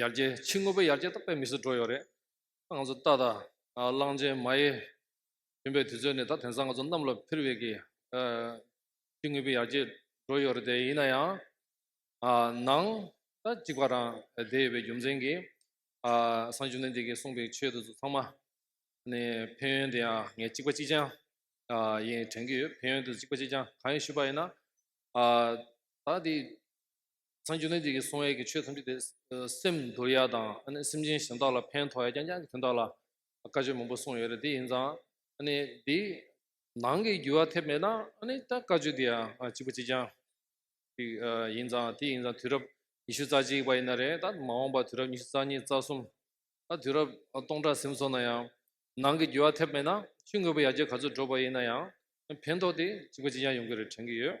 ཡར་རྒྱས་ཕྱི་དངོས་པོ་ཡར་རྒྱས་ད་དཔེ་མི་སུ་འགྲོ་ཡོད་རེད་ད་ང་ཚོ་ཏག་ཏག་གླང་ཆེན་མ་ཡེ་ཡིན་པའི་དུས་ཚོད་ནས་ད་དེང་སང་ང་ཚོ་གནམ་ལ་ཕིར་བས་ཀྱི་ཕྱི་དངོས་པོ་ཡར་རྒྱས་འགྲོ་ཡོད་རེད་དེ་ཡིན་ན་ཡང་ནང་ད་གཅིག་པ་རང་བསྡད་ཡོད་པའི་རྒྱུ་མཚན་གྱིས་སང་ཆུང་ནས་འདི་གི་གསུངས་པའི་ཆོས་དེ་ཚོ་ཚང་མ་ནས་ཕན་ཡོན་དེ་ཡང་ངས་གཅིག་པ་གཅིག་རྐྱང་ཡིན་དྲན་གྱི་ཡོད་ཕན་ཡོན་དེ་ཚོ་གཅིག་པ་གཅིག་རྐྱང་གང་ཡིན་ཞུས་པ་ཡིན་ན་ད་འདི་སངས་རྒྱས་རྣམས་ཀྱིས་གསུང་བའི་ཆོས་ཐམས་ཅད་དེ། སེམས་འདོར་ཡ་དང་སེམས་ཅན་གཞན་དག་ལ་ཕན་ཐོགས་ཡ་རྐྱང་རྐྱང་གི་དོན་དག་ལ། བཀའ་ཆོས་མང་པོ་གསུངས་ཡོད་རེད་དེ་ཡིན་ཙང། དེའི་ནང་གི་རྒྱུ་བ་ཐེབས་མེད་ན་ད་བཀའ་ཆོས་དེ་གཅིག་པུ་གཅིག་རྐྱང། ཞིག་ཡིན་ཙང་དེ་ཡིན་ཙང་དུས་རབས་ཉི་ཤུ་རྩ་གཅིག་པ་ཡིན་ན་རེད་ད་མ་འོངས་པ་དུས་རབས་ཉི་ཤུ་རྩ་གཉིས་རྩ་གསུམ། ད་དུས་རབས་སྟོང་ཕྲག་ཟིམ་སོང་ན་ཡང། ནང་གི་རྒྱུ་བ་ཐེབས་མེད་ན་ཤི་དངོས་པོ་ཡར་རྒྱས་ག་ཚོད་འགྲོ་བ་ཡིན་ན་ཡང། ཕན་ཐོགས་དེ་གཅིག་པ་གཅིག་རྐྱང་ཡོང་གི་རེད་དྲན་གི་ཡོད།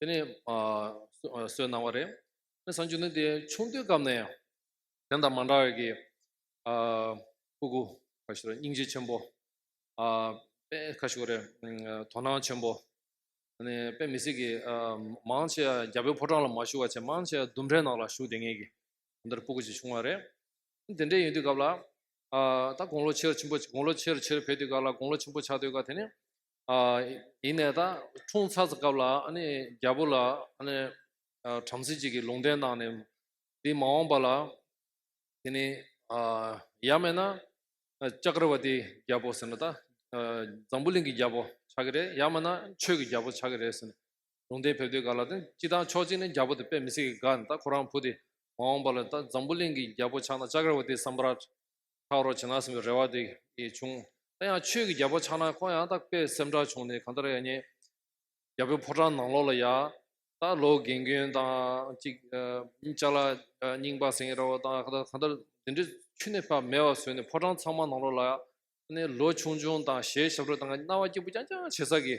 དེ་ནས་སོས་གནང་བ་རེད། དེ་ནས་བཟང་སྤྱོད་ནི་དེ་ཆུང་དུས་སྐབས་ནས་དེ་དང་མ་འདྲ་བའི་གི་ཕུ་གུ་ཁ་ཤོ་རེད་སྙིང་རྗེ་ཆེན་པོ། དཔེ་ཁ་ཤོ་རེད་དོ་སྣང་ཆེན་པོ། དེ་ནས་དཔེ་མི་སྲིད་གི་མང་ཆེ་རྒྱ་བོད་ཕོ་བྲང་ལ་མ་བཞུགས་བར་ཆད་མང་ཆེ་ལྡུམ་རའི་ནང་ལ་བཞུགས་བསྡད་ངེས་གི་དེ་འདྲར་ཕུ་གུ་ཅིག་བྱུང་བ་རེད། དེ་འདྲའི་ཡིན་དུས་སྐབས་ལ་ད་དགུང་ལོ་ཆེར་ཆེན་པོ་དགུང་ལོ་ཆེར་ཆེར་འཕེལ་དུས་སྐབས་ལ་དགུང་ལོ་ཆེན་པོ་ཆགས་དུས་སྐབས་དེ་ནས་ཡིན་ནས་ད་འཁྲུངས་ཚར་སྐབས་ལ་རྒྱལ་པོ་ལ་བྲམ་ཟེ་ཅིག་གིས་ལུང་བསྟན་གནང་ནས། འདི་མ་འོངས་པ་ལ་དེ་ནི་ཡབ་མེད་ན་ཅཀྲྦཱཏི་རྒྱལ་པོ་ཟེར་ན་ད་འཛམ་བུ་གླིང་གི་རྒྱལ་པོ་ཆགས་ཀྱི་རེད་ཡབ་མེད་ན་ཆོས་ཀྱི་རྒྱལ་པོ་ཆགས་ཀྱི་རེད་ཟེར་ནས་ལུང་བསྟན་ཕེབས་དུས་ག་ལ་ཏེ་སྤྱི་དང་ཕྱོགས་གཅིག་ནས་རྒྱལ་པོ་དེ་དཔེ་མི་སྲིད་ཀྱི་དགའ་ནས་ད་ཁོ་རང་བུ་དེ་མ་འོངས་པ་ལ་ད་འཛམ་བུ་གླིང་གི་རྒྱལ་པོ་ཆགས་ན་ཅཀྲྦཱཏི་སམ་རཱཏ་ཁག་རོགས་བྱེད་ན་ཟེར་བའི་རེ་བ་དེ་བྱུང། ད་ཡང་ཆོས་ཀྱི་རྒྱལ་པོ་ཕྱག་ན་ཁོང་ཡང་དག་པས་སེམས་དགྲ་བྱུང་ནས་གང་ལྟར་ཡག་ཉེས། རྒྱལ་པོའི་ཕོ་བྲང་ནང་ལོགས་ལ་ཡག། ད་ལོ་རྒན་རྒོན་དང་ཅིག། ལྕགས་ལ་རྙིང་པ་ཟེང་ར་བོ་དང་གང་ལྟར་དེ་འདྲའི་ཆུ་ནི་ཕ་མེས་བ་བཟོས་ནས་ཕོ་བྲང་ཚང་མ་ནང་ལོགས་ལ་ཡག། ལོ་ཆུང་ཆུང་དང་ཞལ་ཞབས་དྲོ་དང་རྣ་བ་སྐྱིད་པོ་རྐྱང་རྐྱང་བྱེད་ས་གི།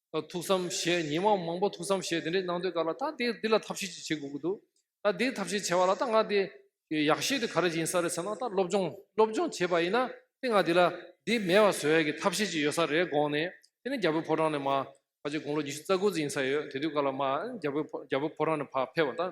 ཐུགས་བསམ་བཞེས་ཉིན་མོ་མང་པོ་ཐུགས་བསམ་བཞེས་དེ་འདྲས་གནང་དུས་ཀ་ལ་ད་དེ་འདི་ལ་ཐབས་ཤེས་ཅིག་བྱེད་དགོས་ཀྱི་འདུག་ད་འདི་ཐབས་ཤེས་བྱས་པ་ལ་ད་ང་དེ་ཡག་བཤད་དུས་ག་རེ་བྱིན་ས་རེད་ཟེར་ན་ད་སློབ་སྦྱོང་སློབ་སྦྱོང་བྱས་པ་ཡིན་ན་དེ་ང་དེ་ལ་འདི་མེད་པ་བཟོ་ཡག་གི་ཐབས་ཤེས་ཅིག་ཡོད་ས་རེད་དགོངས་ནས་དེ་ནས་རྒྱ་བོད་ཕོ་བྲང་ནས་མ་ཕ་ཆེ་དགུང་ལོ་ཉི་ཤུ་རྩ་དགུ་ཙམ་ཡིན་ས་ཡོད་དེ་དུས་ཀ་ལ་མ་རྒྱ་བོད་ཕོ་བྲང་ནས་ཕ་ཕེབས་པ་ད།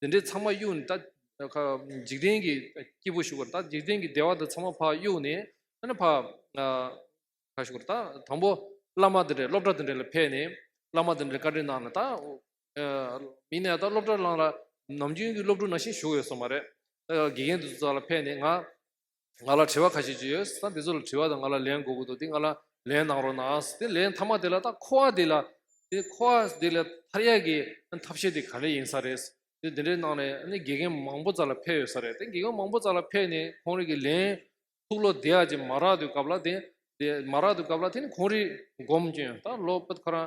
དེ་འདྲའི་ཚང་མ་གཡུག་ནས་ད་འཇིག་རྟེན་གྱི་སྐྱེས་བུ་ཞུགས་པར་ད་འཇིག་རྟེན་གྱི་བདེ་བ་དེ་ཚང་མ་ཕ་གཡུག་ནས་ཨ་ཕ་ཁ་ཞུགས་པར་ད་དང་པོ་བླ་མ་དེ་འདྲ་སློབ་གྲྭ་དེ་འདྲ་ལ་ཕེབས་ནས་བླ་མ་དེ་འདྲ་བཀའ་དྲིན་གནང་ནས་ད་མིན་ནས་ད་སློབ་གྲྭར་བླངས་ལ་ནམ་རྒྱུན་གྱི་སློབ་ཕྲུག་ནང་བཞིན་ཞུགས་ཡོད་སོང་བ་རེད་དགེ་རྒན་དེ་ཚོ་ལ་ཕེབས་ནས་ང་ང་ལ་དྲི་བ་ཁ་ཤས་ཅིག་ཡོད། ད་འདི་ཚོ་ལ་དྲི་བ་དང་ང་ལ་ལན་དགོས་ཀྱི་འདུག་འདི་ང་ལ་ལན་གནང་རོགས་གནང། དེ་ལན་མཐའ་མ་དེ་ལ་ད་ཁོ་བ་འདི་ལ། དེ་ཁོ་བ་འདི་ལ་མཐར་ཡག་གི་ཐབས་ཤེས་དེ་ག་རེ་ཡིན་ས་རེད། དེ་འདི་འདྲའི་གནང་ནས་ཨ་ནི་དགེ་རྒན་མང་པོ་རྩ་ལ་འཕེལ་ཡོད་ས་རེད། དེ་དགེ་རྒན་མང་པོ་རྩ་ལ་འཕེལ་ནས་ཁོང་རིགས་ཀྱི་ལན། ཐུགས་བློ་བདེ་ཡག་ཅིག་མ་རག་དུས་སྐབས་ལ་དེ། མ་རག་དུས་སྐབས་ལ་དེ་ནི་ཁོང་རིགས་སྒོམ་སྐྱོན་ད་ལོ། ཁོ་རང་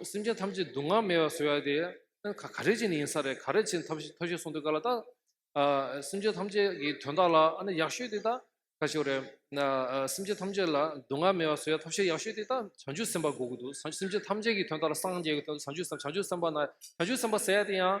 སེམས་ཅན་ཐམས་ཅད་སྡུག་བསྔལ་མེད་པར་བཟོ་ཡ་དེ་ག་རེ་བྱས་ནས་ཡིན་ས་རེད་ག་རེ་བྱས་ནས་ཐབས་ཤེས་གསུངས་འདུག་ག་ལ་དང། སེམས་ཅན་ཐམས་ཅད་ཀྱི་དོན་དག་ལ་ཨ་ནི་ཡག་ཤོས་དེ་དག་ཁ་ཤོས་རེད། སེམས་ཅན་ཐམས་ཅད་ལ་སྡུག་བསྔལ་མེད་པར་བཟོ་ཡ་ཐབས་ཤེས་ཡག་ཤོས་དེ་དག་བྱང་ཆུབ་སེམས་དཔའ་དགོས་ཀྱི་འདུག་སེམས་ཅན་ཐམས་ཅད་ཀྱི་དོན་དག་ལ་སངས་རྒྱས་ཀྱི་དོན་དུ་བྱང་ཆུབ་སེམས་དཔའ་ན་བྱང་ཆུབ་སེམས་དཔའ་ཟེར་ཡ་དེ་ཡང།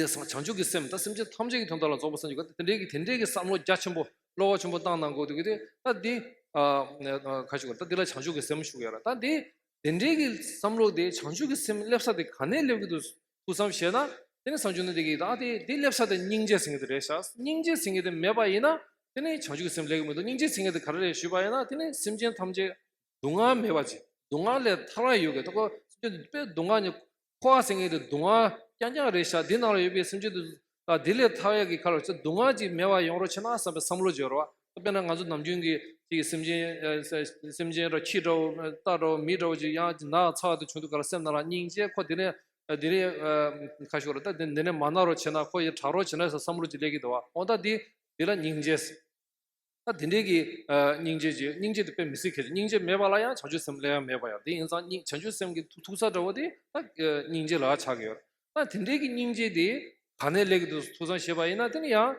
དེ་སང་བྱང་ཆུབ་ཀྱི་སེམས་ད་སེམས་ཅན་ཐམས་ཅད་ཀྱི་དོན་དག་ལ་རྫོགས་པར་སེམས་ཀྱི་དེ་འདྲའི་དེ་འདྲའི་བསམ་བློ་རྒྱ་ཆེན་པོ་བློ་བ་ཆེན་པོ་བཏང་ན་འགོག་ཐུག་གི་དེ་ད་འདི་ག་ཞིག་ད་འདི་ལ་བྱང་ཆུབ་ཀྱི་སེམས་ཞུགས་ཡོད་ར་ད་འདི་དེ་འདྲའི་གི་བསམ་བློ་དེ་བྱང་ཆུབ་ཀྱི་སེམས་སླེབས་ས་དེ་ག་ནས་སླེབས་ཀྱི་འདུག་ཐུགས་བསམ་བཞེས་ན་དེ་ནས་བསམ་བྱུང་ན་འདི་གི་ད་དེ་འདི་སླེབས་ས་དེ་སྙིང་རྗེ་ཟེར་མཁན་དེ་རེད་ཤག་སྙིང་རྗེ་ཟེར་མཁན་དེ་མེད་པ་ཡིན་ན་དེ་ནི་བྱང་ཆུབ་ཀྱི་སེམས་སླེབས་ཀྱི་མི་འདུག་སྙིང་རྗེ་ཟེར་མཁན་དེ་ག་རེ་རེད་ཞུས་པ་ཡིན་ན་དེ་ནི་སེམས་ཅན་ཐམས་ཅད་སྡུག་བསྔལ་མེད་པ་ཅིག་སྡུག་བསྔལ་ལས་ཐར་བ་ཡོད་དགོས་ད་ཁོ་སེམས་ཅན་དེ་དཔེ་སྡུག་བསྔལ་ནི་འཁོར་བ་སེང་གེ་དེ་དུང་བ་རྐྱང་རྐྱང་རེ་བཞག་འདི་ནང་ལ་ཡོད་པའི་སེམས་ཅན་དུ། ད་དེ་ལས་ཐར་བ་ཡག་གི་ཁར་ཚེ་སྡུག་བསྔལ་ཅིག་མེད་པར་ཡོང་རོགས་ཕྱིར་ན་བསམ་པའི་བསམ་བློ་འཇོག་རོགས། དཔེར་ན་ང་ཚོ་ནམ་རྒྱུན་གྱི་གཅིག་སེམས་ཅན། སེམས་ཅན་འདྲ་ཁྱི་འདྲ་བོ་སྟག་འདྲ་བོ་མི་འདྲ་བོ་ཅིག་ཡང་ན་ཚ་བ་དེ་བྱུང་འདུག་ག་ལ་སེམས་ན་རང་སྙིང་རྗེ་ཁོ་དེ་ནས་དེ་རིང། ཁ་ཤོར་རོ་ད་དེ་འདི་ནས་མ་ན་རོགས་བྱེད་ན་ཁོ་ཡི་དྲག་རོགས་བྱེད་ན་ས་བསམ་བློ་ཅིག་ལེགས་ཀྱི་འདུག་བ་འོ་ད་དེ་འདི་ལ་སྙིང་རྗེ། དེ་འདྲའི་གི། སྙིང་རྗེ་རྗེ་སྙིང་རྗེ་དེ་དཔེ་མི་སྲིད་ཁེལ་སྙིང་རྗེ་མེད་པ་ལ་ཡང་བྱང་ཆུབ་སེམས་སླད་ཡང་མེད་པ་ཡང་དེ་ཡིན་ཙང་སྙིང་བྱང་ཆུབ་སེམས་ཀྱི་ཐུག་ས་འདྲ་བོ་དེ་སྙིང་རྗེ་ལགས་ཆགས་ཀྱི་ཡོད། ད་དེ་འདྲའི་གི་སྙིང་རྗེ་དེ་ག་ནས་ལེགས་འདུག་ཐུག་སང་ཤེས་པ་ཡིན་ན་དེ་ནི་ཡང།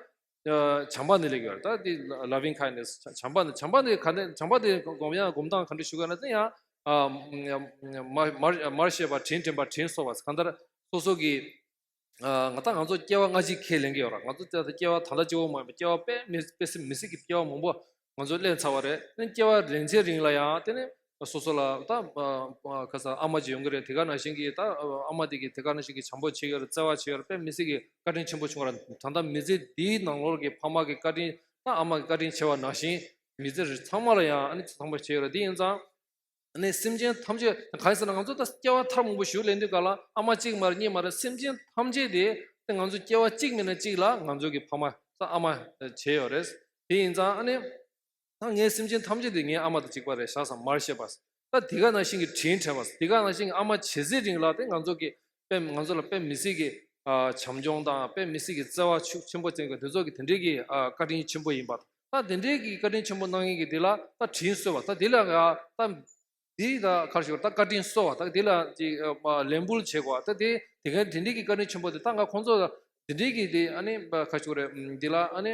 བྱམས་པ་ནས་ལེགས་ཡོད་ད་དེ Loving Kindness བྱམས་པ་ནས་བྱམས་པ་ནས་ག་ནས་བྱམས་པ་དེ་སྒོམ་ཡང་སྒོམ་སྟངས་ག་འདྲ་ཞུ་ག་ན་དེ་ཡང། མར་བཤད་པ་དྲིན་དྲན་པ་དྲིན་གསོ་བ་གང་ལྟར་སོ་སོ་གི། ང་ད་ང་ཚོ་སྐྱེ་བ་སྔ་ཕྱི་ཁས་ལེན་གྱི་ཡོད་ར་ང་ཚོ་ད་སྐྱེ་བ་ད་ལ་སྐྱེ་བོ་མ་ཡིན་པ་སྐྱེ་བ་དཔེ་དཔེ་སྲིད་མི་སྲིད་ཀྱི་སྐྱེ་བ་མང་པོ་ང་ཚོ་བསླད་ཚར་བ་རེད་དེ་སྐྱེ་བ་རིང་ཚེ་རིང་ལ་ཡང་དེ་ནི་སོ་སོ་ལ་ད་ཁ་སང་ཨ་མ་ཅིག་ཡོང་གི་རེད་དེ་ག་ནང་བཞིན་གྱི་ད་ཨ་མ་དེ་གི་དེ་ག་ནང་བཞིན་གྱི་བྱམས་པོ་བྱེད་ཀྱི་རེད་བརྩེ་བ་བྱེད་ཀྱི་རེད་དཔེ་མི་སྲིད་ཀྱི་བཀའ་དྲིན་ཆེན་པོ་ཆུང་བ་རེད་ད་ལྟ་མི་ཚེ་འདིའི་ནང་ལོར་གྱི་ཕ་མ་གི་བཀའ་དྲིན་ད་ཨ་མ་གི་བཀའ་དྲིན་ཆེ་བ་ནང་བཞིན་མི་ཚེ་རིང་ཚང་མ་ལ་ཡང་ཨ་ནི་ཚང་མ་བྱེད་ཀྱི་རེད་དེ་ཡིན་ཙང་ནས་སེམས་ཅན་ཐམས་ཅད་གང་ཟེར་ན་ང་ཚོ་ད་སྐྱེ་བ་ཐར་མང་པོ་ཞུགས་ལས་འདི་ག་ལ་ཨ་མ་གཅིག་མ་རེད་གཉིས་མ་རེད་སེམས་ཅན་ཐམས་ཅད་དེ་ང་ཚོ་སྐྱེ་བ་གཅིག་མིན་ན་གཅིག་ལ་ང་ཚོ་གི་ཕ་མ་ཨ་མ་བྱས་ཡོད་རེད། དེ་ཡིན་ཙང་ནས་ད་ངའི་སེམས་ཅན་ཐམས་ཅད་དེ་ངའི་ཨ་མ་དང་གཅིག་པ་རེད་ཤག་སམ་མར་བཤད་པ། ད་དེ་ག་ནང་བཞིན་གྱི་དྲིན་དྲན་པ། དེ་ག་ནང་བཞིན་ཨ་མ་བྱེད་ཟེར་རིང་ལ་དེ་ང་ཚོ་གི་དཔེ་ང་ཚོ་ལ་དཔེ་མི་སྲིད་ཀྱི་བྱམས་སྐྱོང་དང་དཔེ་མི་སྲིད་ཀྱི་བརྩེ་བ་ཤུགས་ཆེན་པོ་བསྟན་ཀྱང་དེ་ཚོ་གི་དེ་འདྲའི་གི་བཀའ་དྲིན་ཆེན་པོ་ཡིན་པ་ད་དེ་འདྲའི་གི་བཀའ་དྲིན་ཆེན་པོ་གནང་ཡིན་གི་དེ་ལ་ད་དྲིན་གསོལ་བ་ད་དེ་ལ་ད་དེ་ད་གར་ཞུགས་ད་བཀའ་དྲིན་གསོལ་བ་ད་དེ་ལ་ཅིག་ལན་འབུལ་བྱེད་དགོས་ད་དེ་དེ་ག་དེ་འདྲའི་གི་བཀའ་དྲིན་ཆེན་པོ་དེ་ད་ང་ཁོང་ཚོ་ལ་དེ་འདྲའི་གི་དེ་ཨ་ནི་གར་ཞུགས་རེད་དེ་ལ་ཨ་ནི།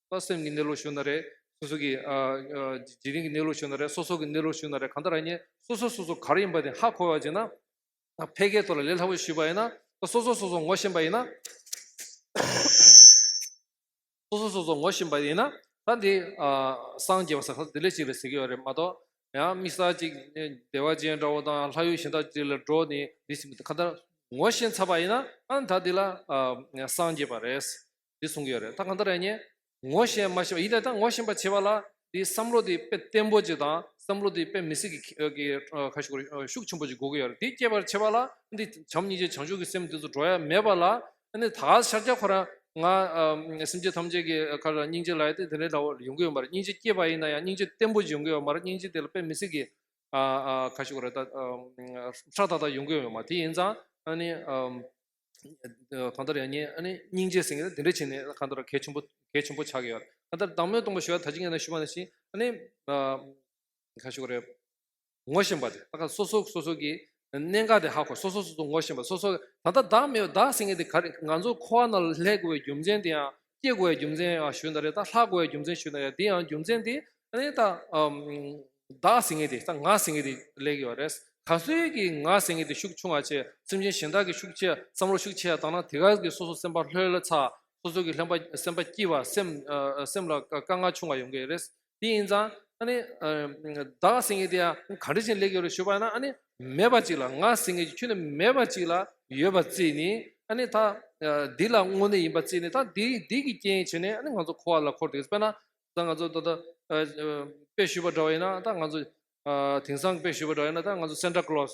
ལྟ་སེམས་ཀྱི་གནས་ལུགས་ཞུ་ན་རེ། སོ་སོ་གི་རྗེས་དྲན་གྱི་གནས་ལུགས་ཞུ་ན་རེ་སོ་སོ་གི་གནས་ལུགས་ཞུ་ན་རེ་གང་ལྟར་ཡིན་སོ་སོ་སོ་སོ་ག་རེ་ཡིན་པ་དེ་ཧ་གོ་བ་ཅིག་ན། ཕལ་སྐད་ཐོག་ལ་ལས་སླ་པོ་ཞུས་པ་ཡིན་ན། སོ་སོ་སོ་སོ་ངོ་ཤེས་པ་ཡིན་ན། སོ་སོ་སོ་སོ་ངོ་ཤེས་པ་ཡིན་ན། ད་འདི་སངས་རྒྱས་པ་ས་ཁ་དེ་ལས་ཅིག་རེད་ཟེར་གྱི་ཡོད་རེད་མ་གཏོགས། ཡང་དམིགས་བསལ་ཅིག་བདེ་བ་ཅན་འདྲ་བོ་དང་ལྷ་ཡུལ་གཞན་དག་ཅིག་ལ་འགྲོ་ནས་འདི་ཞིག་མི་འདུག་གང་ལྟར། ངོ་ཤེས་ཚར་བ་ཡིན་ན་ད་འདི་ལ་སངས་རྒྱས་པ་རེད། འདི་གསུང་གི་ཡོད་རེད་ད་གང་ལྟར་ཡིན་ཉེ། ངོ་ཤེས་མ་ཤེས་པ་ཡིན་ནའི་ད་ངོ་ཤེས་པ་བྱེད་པ་ལ་འདི་བསམ་བློ་འདི་དཔེ་བརྟན་པོ་ཅིག་དང་བསམ་བློ་འདི་དཔེ་མི་སྲིད་ཀྱི་ཁ་ཤུགས་ཤུགས་ཆེན་པོ་ཅིག་དགོས་ཀྱི་ཡོད་རེད་འདི་བསྐྱེད་པར་བྱེད་པ་ལ་འདི་བྱམས་སྙིང་རྗེ་བྱང་ཆུབ་ཀྱི་སེམས་འདི་ཚོ་འགྲོ་ཡ་མེད་པ་ལ་འདི་ད་ག་ཤར་རྒྱག་ཁོ་རང་ང་སེམས་ཅན་ཐམས་ཅད་ཀྱི་ཁར་སྙིང་རྗེ་ལ་ཡ་དེ་དེ་འདྲའི་ལ་ཡོང་གི་ཡོད་མ་རེད་སྙིང་རྗེ་བསྐྱེད་པ་ཡིན་ན་ཡང་སྙིང་རྗེ་བརྟན་པོ་ཅིག་ཡོང་གི་ཡོད་མ་རེད་སྙིང་རྗེ་དེ་ལ་དཔེ་མི་སྲིད་ཀྱི་ཁ་ཤུགས་རེ་ད་ཧྲག་ཐག་ཐག་ཡོང་གི་ཡོད་མ་རེད་དེ་ཡིན་ཙང་གང་ལྟར་ཡང་ཉེ་ཨ་ནི་སྙིང་རྗེ་སེང་གེ་དེ་འདྲ་བྱས་ནས་གང་ལྟར་གལ་ཆེན་པོ་གལ་ཆེན་པོ་ཆགས་ཀྱི་ཡོད་གང་ལྟར་བདག་མོས་སྟོང་པ་ཞུ་བ་ད་ཅི་ངས་ན་ཞུ་བ་ནི་ཞིག་ཨ་ནི་ག་ཞུ་གི་རེད། ངོ་ཤེས་པ་དེ་ད་སོ་སོ་སོ་སོ་གི་གནད་འགག་དེ་ཧ་གོ་སོ་སོ་སོ་སོ་ངོ་ཤེས་པ་སོ་སོ་ད་ལྟ་བདག་མེད་བདག་སེང་གེ་དེ་ག་རེ་ང་ཚོ་འཁོར་བ་ན་ལྷའི་དགོས་པའི་རྒྱུ་མཚན་དེ་ཡང་སྐྱེ་དགུའི་རྒྱུ་མཚན་ཡང་ཞུས་འདི་རེད་ད་ལྷ་དགུའི་རྒྱུ་མཚན་ཞུས་འདི་རེད་འདི་ཡང་རྒྱུ་མཚན་དེ་ནི་ད་བདག་ཟེར་མཁན་དེ་ད་ང་ཟེར་མཁན་དེ་ལས་ཀྱི་བ་རེད་ད་གཟོད་ཀྱི་ང་ཟེར་མཁན་དེ་ཤུགས་ཆུང་བ་ཆེ་སེམས་ཅན་གཞན་དག་གི་ཤུགས་ཆེ་བསམ་བློ་ཤུགས་ཆེ་བཏང་ན་དེ་ག་གི་སོ་སོ་སེམས་པ་ལྷོད་ལ་ཚ་སོ་སོ་གི་སེམས་པ་སྐྱིད་བ་སེམས་ལ་དཀའ་ངལ་ཆུང་བ་ཡོང་གི་རེད་དེ་ཡིན་ཙང་ཨ་ནི། བདག་སེང་གེ་དེ་ཡང་ག་འདྲ་ཞིག་ལེགས་ཡོད་རེ་ཞུས་པ་ན་ཨ་ནི། མེད་པ་ཅིག་ལ་ང་སེང་གེ་ཁྱོད་ནི་མེད་པ་ཅིག་ལ་ཡོད་པར་བརྩིས་ནས་ཨ་ནི་ད། འདི་ལ་དངོས་གནས་ཡིན་པར་བརྩིས་ནས་ད་འདི་འདི་གི་རྐྱེན་བྱས་ནས་ཨ་ནི་ང་ཚོ་འཁོར་བ་ལ་འཁོར་དུ་ཡོད་དཔེར་ན། ད་ང་ཚོ་ད་ལྟ། དཔེ་ཞུས་པ་འདྲ་བ་ཡིན་ན་ད་ང་ཚོ། དེང་སང་དཔེ་ཞུས་པ་འདྲ་བ་ཡིན་ན་ད་ང་ཚོ་སེནྟ་ཀློས།